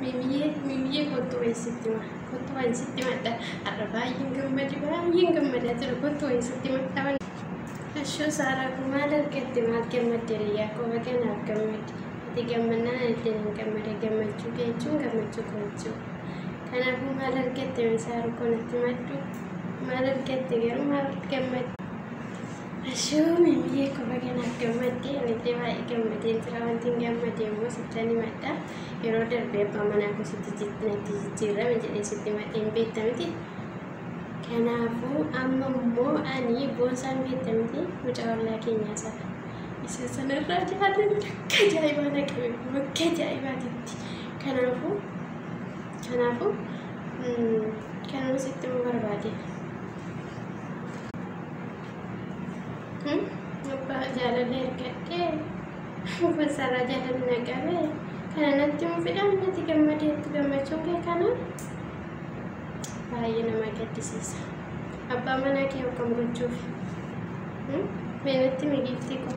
Mimiyee mimiyee kottu wayi sitti ma kottu wayi sitti madha har'a baay'een gammade baay'een gammadaa jira kottu wayi sitti madha waan Ashoo saaraa kun maal argatte maal gammadde riyyaa koo baga naaf gammadde ati gammannaan itti hin gammade gammachuu kee jechuun gammachuu koo jechuudha kanaafuu maal argatte mee saaruu koo natti maddu maal argatte garuu maal gammadde Ashuu mimiyee ko baga naaf gammadde anillee baay'ee gammadee jira wanti hin gammade immoo sittan himadha yeroo darbe abbaa manaa ko sitti jitti natti jijjiirrame jedhee sitti himadhe hin beekta miti kanaafuu amma immoo ani boonsaa hin beekta miti mucaa ollaa keenyaa sana isa sanarraa jiraate bakka ajaa'ibaa na qabe bakka ajaa'ibaatitti kanaafuu kanaafuu mm, kanuma sitti himuu barbaade. Abbaa jaalala ergadhee uffata isaarraa jaalala na qabe kana natti hin fidhan natti gammadee itti gammachuu kee kana baay'ee nama gaddisiisa. Abbaa manaa kee akkam gochuuf mee natti migiiftii koo.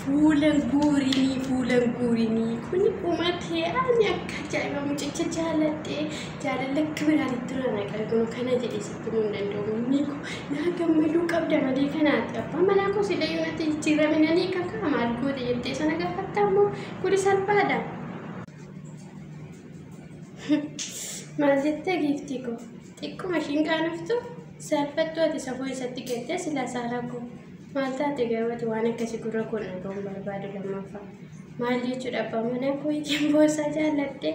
Fuulan guurinii fuulan guurinii kun umatee ani akka ajaa'iba mucicha jaaladhee jaalala akka biraatitti na naqarginu kana jedhisi. Tumuun danda'u mimmii koo naa gammaduu qabda malee kanaati abbaa manaa koo sila yoo natti jijjiirame nan hiika kaa maal goote jettee sana gaafatta ammoo kuni salphaadha. Maal jettee giiftii koo xiqquma ishiin qaanoftu saalfattuu ati safuu isatti galtee silaa saalaa koo maal taate garuu ati waan akkasii gurra koo na ga'uun barbaadu lammaffaa maal jechuudha abbaa manaa koo ittiin boosaa jaallattee.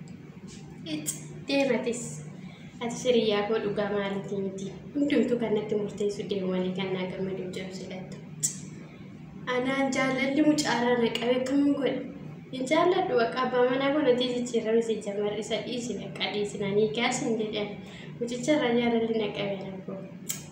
Ic deematis ati siriyyaa koo dhugaa maalitii miti hundumtuu kan natti murteessu deemu malee kan naa gammaduu jedhu silattu anaan jaalalli mucaaraa na qabe akkamin godhe hin jaalladhu bakka abbaa manaa koo natii jijjiirame si jamar isa dhiisi bakka dhiisi nanii gaas hin jedhan mucicha irraa jaalalli na qabe na koo